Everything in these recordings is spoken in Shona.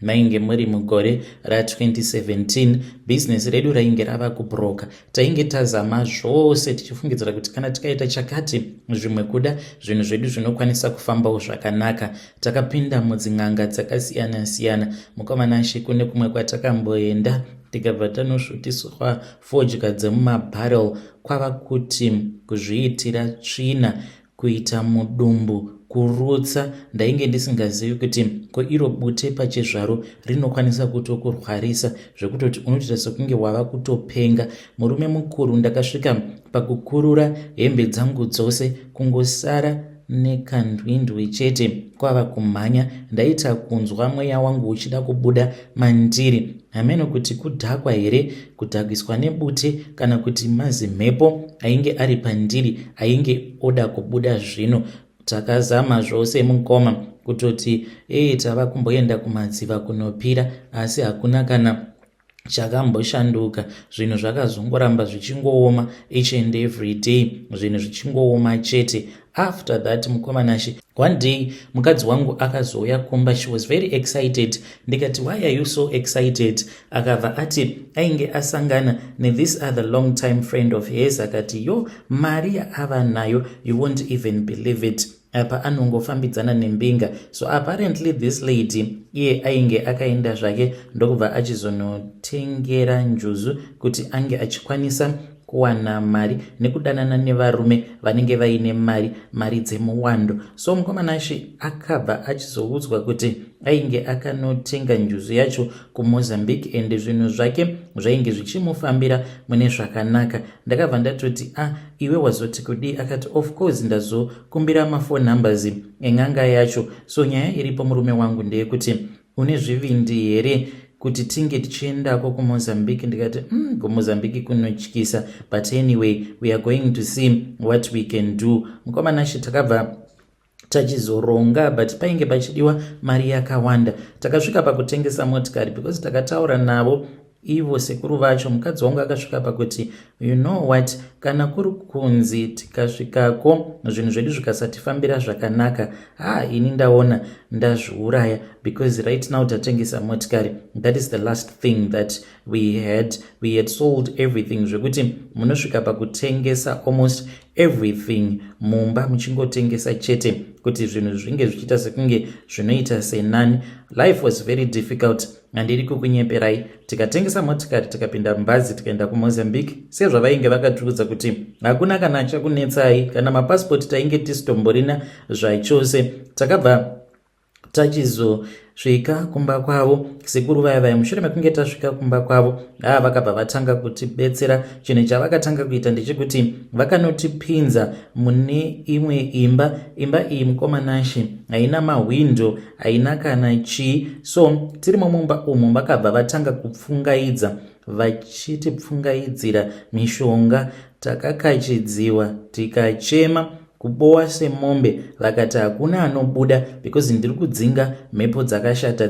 Mainge muri mugore ra2017, bhizinesi redu rainge rava kubhuroka. Tainge tazama zvose tichifungidzira kuti kana tikaita chakati zvimwe kuda, zvinhu zvedu zvinokwanisa kufambawo zvakanaka. Takapinda mudzin'anga dzakasiyana-siyana. Mukamanashe kune kumwe kwatakamboenda tikabva tanosvutiswa fodya dzemumabharrel kwava kuti kuzviitira tsvina kuita mudumbu kurutsa ndainge ndisingazivi kuti ko iro bute pachizvaro rinokwanisa kutokurwarisa zvekutoti unotoita sekunge wava kutopenga murume mukuru ndakasvika pakukurura hembe dzangu dzose kungosara nekandwindwi chete kwava kumhanya ndaita kunzwa mweya wangu uchida kubuda mandiri hameno kuti kudhakwa here kudhakwiswa nebute kana kuti mazimhepo ainge ari pandiri ainge oda kubuda zvino takazama zvose mukoma kutoti ee tava kumboenda kumadziva kunopira asi hakuna kana chakamboshanduka zvinhu zvakazongoramba zvichingooma each and every day zvinhu zvichingooma chete after that mukoma nashe one day mukadzi wangu akazouya kumba she was very excited ndikati why are you so excited akabva ati ainge asangana nethis other long time friend of hers akati yo mari yaava nayo you won't even believe it apa anongofambidzana nembinga so apparently this lady iye ainge akaenda zvake ndokubva achizonotengera njuzu kuti ange achikwanisa kuwana mari nekudanana nevarume vanenge vaine mari mari dzemuwando so mukomana ashe akabva achizoudzwa kuti ainge akanotenga njuzu yacho kumozambique and zvinhu zvake zvainge zvichimufambira mune zvakanaka ndakabva ndatoti a ah, iwe wazoti kudii akati of course ndazokumbira mafour numbers en'anga yacho so nyaya iripo murume wangu ndeyekuti une zvivindi here kuti tinge tichiendako kumozambique ndikati mm, kumozambique kunotyisa but anyway we are going to see what we can do mukoma nashe takabva tachizoronga but painge pachidiwa mari yakawanda takasvika pakutengesa motikari because takataura navo ivo sekuru vacho mukadzi wangu akasvika pakuti you know what kana kuri kunzi tikasvikako zvinhu zvedu zvikasatifambira zvakanaka ha ini ndaona ndazviuraya because right now tatengesa motikari that is the last thing that we had we had sold everything zvekuti munosvika pakutengesa almost everything mumba muchingotengesa chete kuti zvinhu zvinge zvichiita sekunge zvinoita senani life was very difficult handidi kukunyeperai tikatengesa motikari tikapinda mubhazi tikaenda kumozambique sezvavainge vakatiudza kuti hakuna kana achakunetsai kana mapasipoti tainge tisitomborina zvachose takabva tachizo svika kumba kwavo sekuru vaya vaya mushure mekunge tasvika kumba kwavo haa vakabva vatanga kutibetsera chinhu chavakatanga kuita ndechekuti vakanotipinza mune imwe imba imba iyi mukomanashe haina mahwindo haina kana chii so tiri mumumba umu vakabva vatanga kupfungaidza vachitipfungaidzira mishonga takakachidziwa tikachema kubowa semombe vakati hakuna anobuda because ndiri kudzinga mhepo dzakashata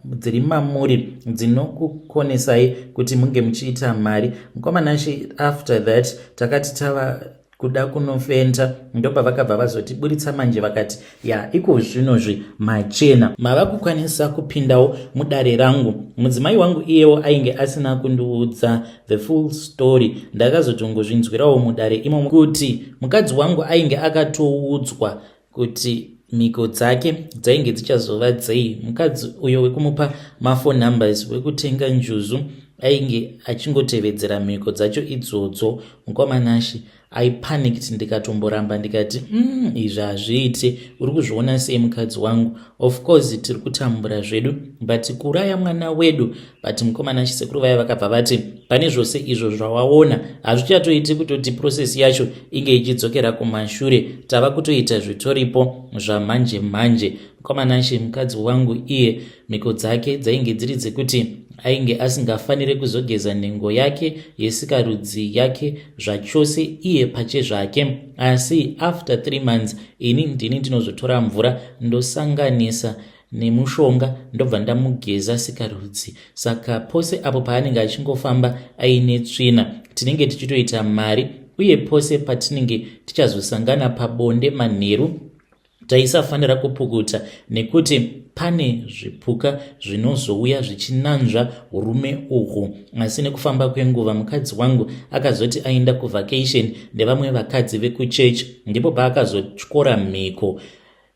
dziri mamuri dzinokukonesai kuti munge muchiita mari mukomanashe after that takati tava kuda kunofenta ndopavakabva vazoti buritsa manje vakati ya iko zvinozvi machena mava kukwanisa kupindawo mudare rangu mudzimai wangu iyewo ainge asina kundiudza the full story ndakazotongozvinzwirawo mudare imomo kuti mukadzi wangu ainge akatoudzwa kuti mhiko dzake dzainge dzichazova dzei mukadzi uyo wekumupa mafour numbers wekutenga njuzu ainge achingotevedzera mhiko dzacho idzodzo mukoma nashe i panicked ndikatomboramba ndikati mm, izvi hazviiti uri kuzviona sei mukadzi wangu of course tiri kutambura zvedu but kuuraya mwana wedu but mukomana chisekuru vaya vakabva vati pane zvose izvo zvawaona hazvichatoiti kutoti process yacho inge ichidzokera kumashure tava kutoita zvitoripo zvamanje manje mukomana shi mukadzi wangu iye mhiko dzake dzainge dziri dzekuti ainge asingafanire kuzogeza nhengo yake yesikarudzi yake zvachose iye pache zvake asi after three months ini ndini ndinozotora mvura ndosanganisa nemushonga ndobva ndamugeza sikarudzi saka pose apo paanenge achingofamba aine tsvina tinenge tichitoita mari uye pose patinenge tichazosangana pabonde manheru taisafanira kupukuta nekuti pane zvipuka zvinozouya zvichinanzva urume uhwu asi nekufamba kwenguva mukadzi wangu akazoti aenda kuvacation nevamwe vakadzi vekuchechi ndipo paakazotyora mhiko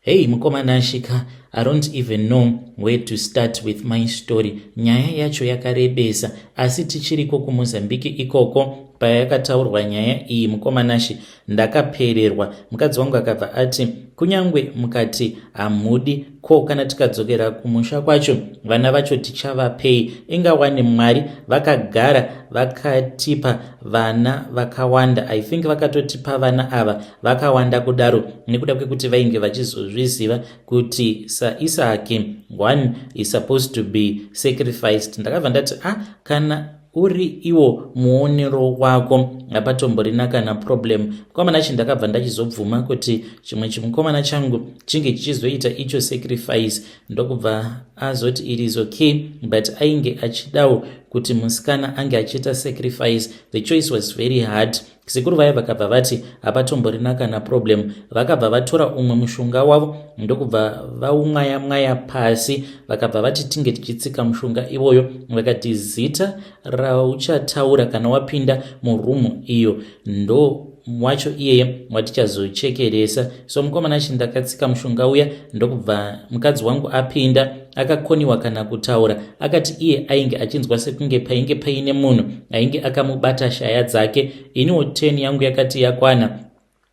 Hey mukoma Nashika, I don't even know where to start with my story. Nyaya yacho yakarebesa, asi tichiriko kuMozambique ikoko paya yakataurwa nyaya iyi mukoma Nashi ndakapererwa. Mukadzi wangu akabva ati kunyangwe mukati hamudi ko kana tikadzokera kumusha kwacho vana vacho tichavapei? Inga wani Mwari vakagara vakatipa vana vakawanda i think vakatotipa vana ava vakawanda kudaro nekuda kwekuti vainge vachizozviziva kuti saisaki one is supposed to be sacrificed ndakabva ndati a ah, kana uri iwo muonero wako hapatomborina kana problem mukomana chi ndakabva ndachizobvuma kuti chimwe chimukomana changu chinge chichizoita icho sacrifice ndokubva azoti it is okay but ainge achidawo kuti musikana ange achiita sacrifice the choice was very hard sekuru vaya vakabva vati hapatomborina kana problem vakabva vatora umwe mushonga wavo ndokubva vaumwaya mwaya pasi vakabva vati tinge tichitsika mushonga iwoyo vakati zita rauchataura kana wapinda murumu iyo ndo wacho iyeye watichazochekeresa so mukomana chi ndakatsika mushonga uya ndokubva mukadzi wangu apinda akakoniwa kana kutaura akati iye ainge achinzwa sekunge painge paine munhu ainge akamubata shaya dzake iniwo teni yangu yakati yakwana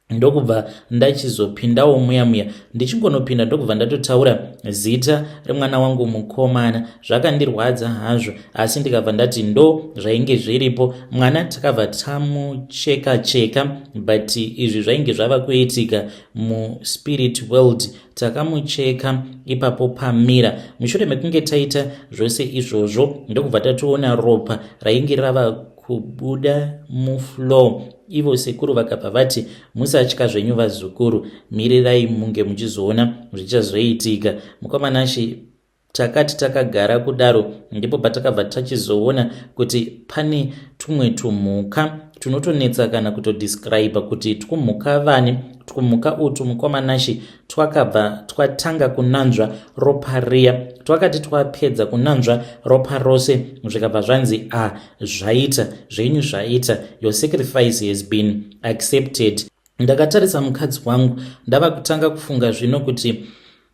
ndokubva ndachizopindawo muya muya ndichingonopinda ndokubva ndatotaura zita remwana wangu mukomana zvakandirwadza hazvo asi ndikabva ndati ndo zvainge zviripo mwana takabva tamucheka cheka but izvi zvainge zvava kuitika muspirit world takamucheka ipapo pamira mushure mekunge taita zvose izvozvo ndokubva tatoona ropa rainge rava kubuda muflow ivo sekuru vakabva vati musatya zvenyu vazukuru mirirai munge muchizoona zvichazoitika mukomanashi Takati takagara kudaro ndipo patakabva tachizoona kuti pane tumwe tumhuka tunotonetsa kana kutodescriba kuti twumhuka vani twumhuka utwu mukwamanashe twakabva twatanga kunanzva ropa riya twakati twapedza kunanzva ropa rose zvikabva zvanzi a ah, zvaita zvenyu zvaita your sacrifice has been accepted ndakatarisa mukadzi wangu ndava kutanga kufunga zvino kuti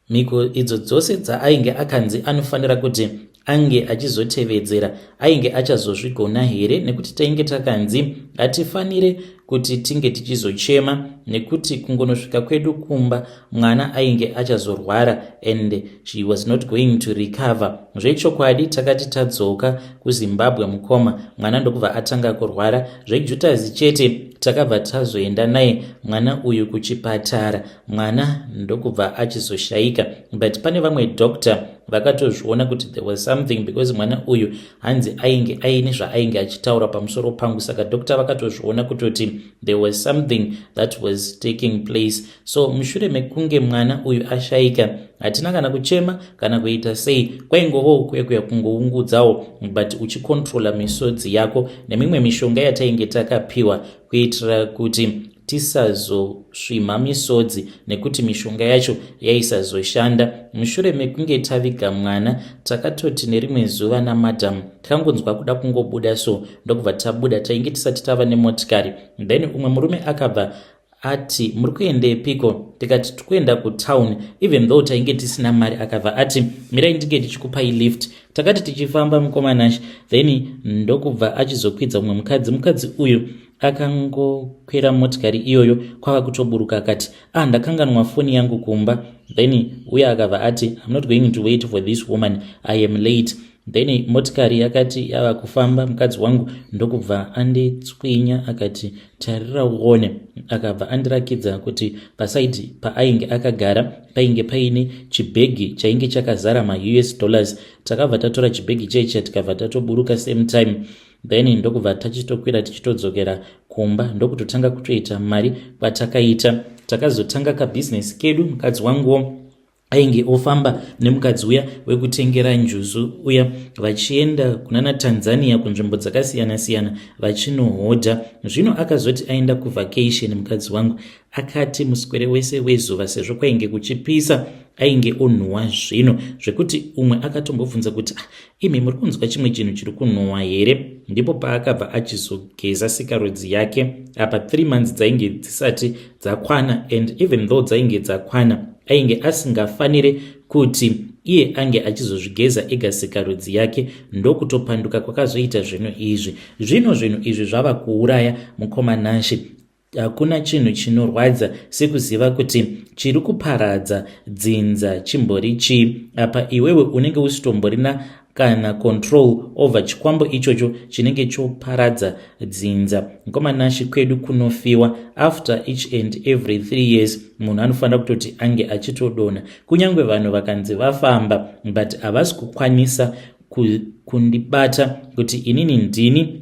Mhiko idzo dzose dzaainge akanzi anofanira kuti ange achizotevedzera ainge achazozvigona here nekuti tainge takanzi hatifanire kuti tinge tichizochema nekuti kungonosvika kwedu kumba mwana ainge achazorwara and she was not going to recover zvechokwadi takati tadzoka kuzimbabwe mukoma mwana ndokubva atanga kurwara zvejutazi chete takabva tazoenda naye mwana uyu kuchipatara mwana ndokubva achizoshaika but pane vamwe doctor vakatozviona kuti there was something because mwana uyu hanzi ainge aine zvaainge achitaura pamusoro pangu saka doctor vakatozviona kutoti there was something that was taking place so mushure mekunge mwana uyu ashaika hatina kana kuchema kana kuita sei kwaingovawo kuekuya kungoungudzawo but uchikontrola misodzi yako nemimwe mishonga yatainge takapiwa kuitira kuti tisazosvimha misodzi nekuti mishonga yacho yaisazoshanda mushure mekunge taviga mwana takatoti nerimwe zuva namadam takangonzwa kuda kungobuda so ndokubva tabuda tainge tisati tava nemotikari then umwe murume akabva ati muri kuendepiko tikati tikuenda kutown even though tainge tisina mari akabva ati mirai ndinge ndichikupai lift takati tichifamba mukoma nash then ndokubva achizokwidza umwe mukadzi mukadzi uyu akangokwira motikari iyoyo kwava kutoburuka akati ah ndakanganwa foni yangu kumba then uye akabva ati im not going to wait for this woman i am late then motikari yakati yava kufamba mukadzi wangu ndokubva anditswinya akati tarira uone akabva andirakidza kuti pasaidi paainge akagara painge paine chibhegi chainge chakazara maus dollars takabva tatora chibhegi chaicha tikabva tatoburuka same time then ndokubva tachitokwira tichitodzokera kumba ndokutotanga kutoita mari kwatakaita takazotanga kabhizinesi kedu mukadzi wanguwo ainge ofamba nemukadzi uya wekutengera njuzu uya vachienda kunana tanzania kunzvimbo dzakasiyana-siyana vachinohodha zvino akazoti aenda kuvacation mukadzi wangu akati muswere wese wezuva sezvo kwainge kuchipisa ainge onhuwa zvino zvekuti umwe akatombobvunza kuti ah, Imi muri kunzwa chimwe chinhu chiri kunhuhwa here? Ndipo paakabva achizogeza sikarudzi yake. Apa three months dzainge dzisati dzakwana and even though dzainge dzakwana ainge asingafanire kuti iye ange achizozvigeza ega sikarudzi yake ndokutopanduka kwakazoita zvinhu izvi. Zvino zvinhu izvi zvava kuuraya mukoma Nashe Hakuna chinhu chinorwadza sekuziva kuti chiri kuparadza dzinza chimbori chii apa iwewe unenge usitomborina kana control over chikwambo ichocho chinenge choparadza dzinza nkomanashi kwedu kunofiwa after each and every three years munhu anofanira kutoti ange achitodona kunyange vanhu vakanzi vafamba but havasi kukwanisa kundibata kuti inini ndini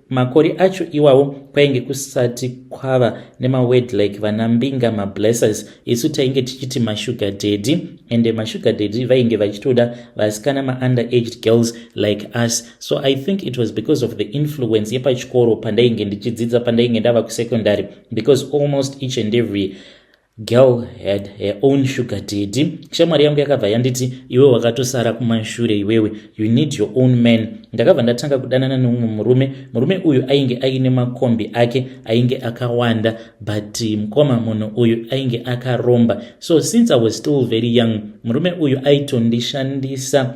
makore acho iwawo kwainge kusati kwava nemaword like vana mbinga mablessers isu tainge tichiti mashuga daddy ende mashuga daddy vainge vachitoda vasikana maunde aged girls like us so i think it was because of the influence yepachikoro pandainge ndichidzidza pandainge ndava kusecondary because almost each and every Girl had her own sugar daddy. Shamwari yangu yakabva yanditi iwe wakatosara kumashure iwewe, you need your own man. Ndakabva ndatanga kudanana neumwe murume. Murume uyu ainge aine makombi ake ainge akawanda but eh, mkoma munhu uyu ainge akaromba. So since I was still very young, murume uyu aitondishandisa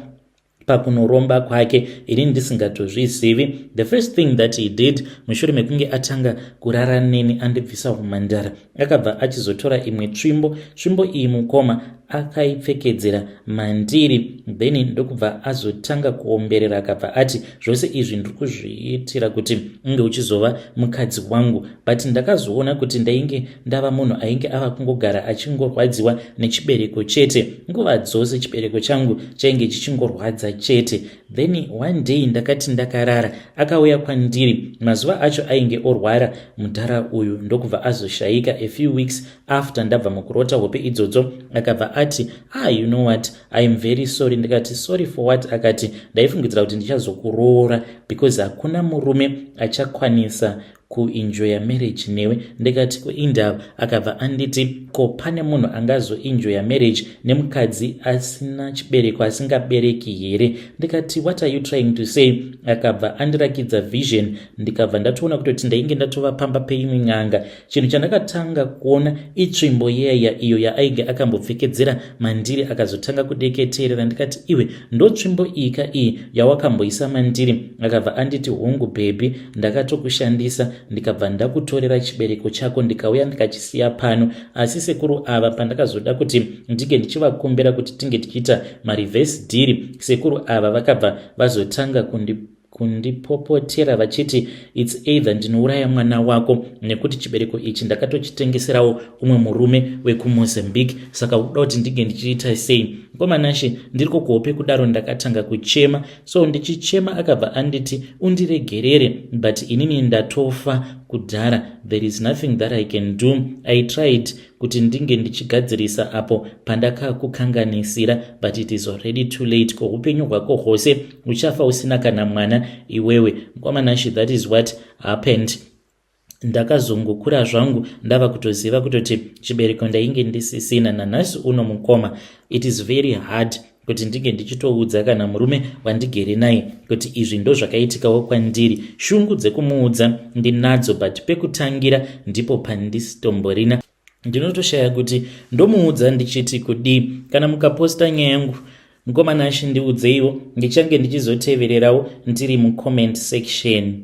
pakunoromba kwake ini ndisingatozvizivi the first thing that he did mushure mekunge atanga kurara neni andibvisa umhandara akabva achizotora imwe tsvimbo tsvimbo iyi mukoma akaipfekedzera mandiri then ndokubva azotanga kuomberera akabva ati zvose izvi ndiri kuzviitira kuti unge uchizova mukadzi wangu but ndakazoona kuti ndainge ndava munhu ainge ava kungogara achingorwadziwa nechibereko chete nguva dzose chibereko changu chainge chichingorwadza chete then one day ndakati ndakarara akauya kwandiri mazuva acho ainge orwara mudhara uyu ndokubva azoshaika a few weeks after ndabva mukurota hope idzodzo akabva ati ah you know what iam very sorry ndikati sorry for what akati ndaifungidzira kuti ndichazokuroora because hakuna murume achakwanisa kuenjoya marriage newe ndikati kuindava akabva anditi ko pane munhu angazoenjoya marriage nemukadzi asina chibereko asingabereki here ndikati what are you trying to say akabva andirakidza vision ndikabva ndatoona kutoti ndainge ndatova pamba peimwe n'anga chinhu chandakatanga kuona itsvimbo yeya iyo yaainge akambopfekedzera mandiri akazotanga kudeketerera ndikati iwe ndotsvimbo iyika iyi yawakamboisa mandiri akabva anditi hongu bhebhi ndakatokushandisa ndikabva ndakutorera chibereko chako ndikauya ndikachisiya pano asi sekuru ava pandakazoda kuti ndinge ndichivakumbira kuti tinge tichiita marevhesi dhiri sekuru ava vakabva vazotanga kundi kundipopotera vachiti its either ndinouraya mwana wako nekuti chibereko ichi ndakatochitengeserawo umwe murume wekumozambique saka uda kuti ndinge ndichiita sei komanashe ndiri kokuhope kudaro ndakatanga kuchema so ndichichema akabva anditi undiregerere but inini ndatofa kudhara there is nothing that i can do i tried kuti ndinge ndichigadzirisa apo pandakakukanganisira but it is already too late ko upenyu hwako hwose uchafa usina kana mwana iwewe mkwamanashi that is what happened ndakazongokura zvangu ndava kutoziva kutoti chibereko ndainge ndisisina nanhasi uno mukoma it is very hard kuti ndinge ndichitoudza kana murume wandigere naye kuti izvi ndozvakaitikawo kwandiri shungu dzekumuudza ndinadzo but pekutangira ndipo pandisitomborina ndinotoshaya kuti ndomuudza ndichiti kudii kana mukaposta nyaya yangu mukoma nashi ndiudzeiwo ndichange ndichizotevererawo ndiri mucomment section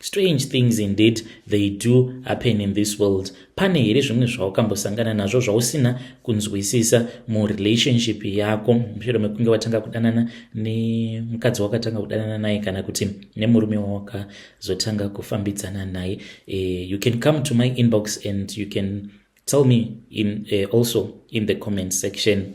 Strange things indeed they do happen in this world. Pane here zvimwe zvawakambosangana nazvo zvausina kunzwisisa murelationship yako mushure mekunge watanga kudanana nemukadzi wakatanga kudanana naye kana kuti nemurume wawakazotanga kufambidzana naye? Uh, you can come to my inbox and you can tell me in, uh, also in the comment section.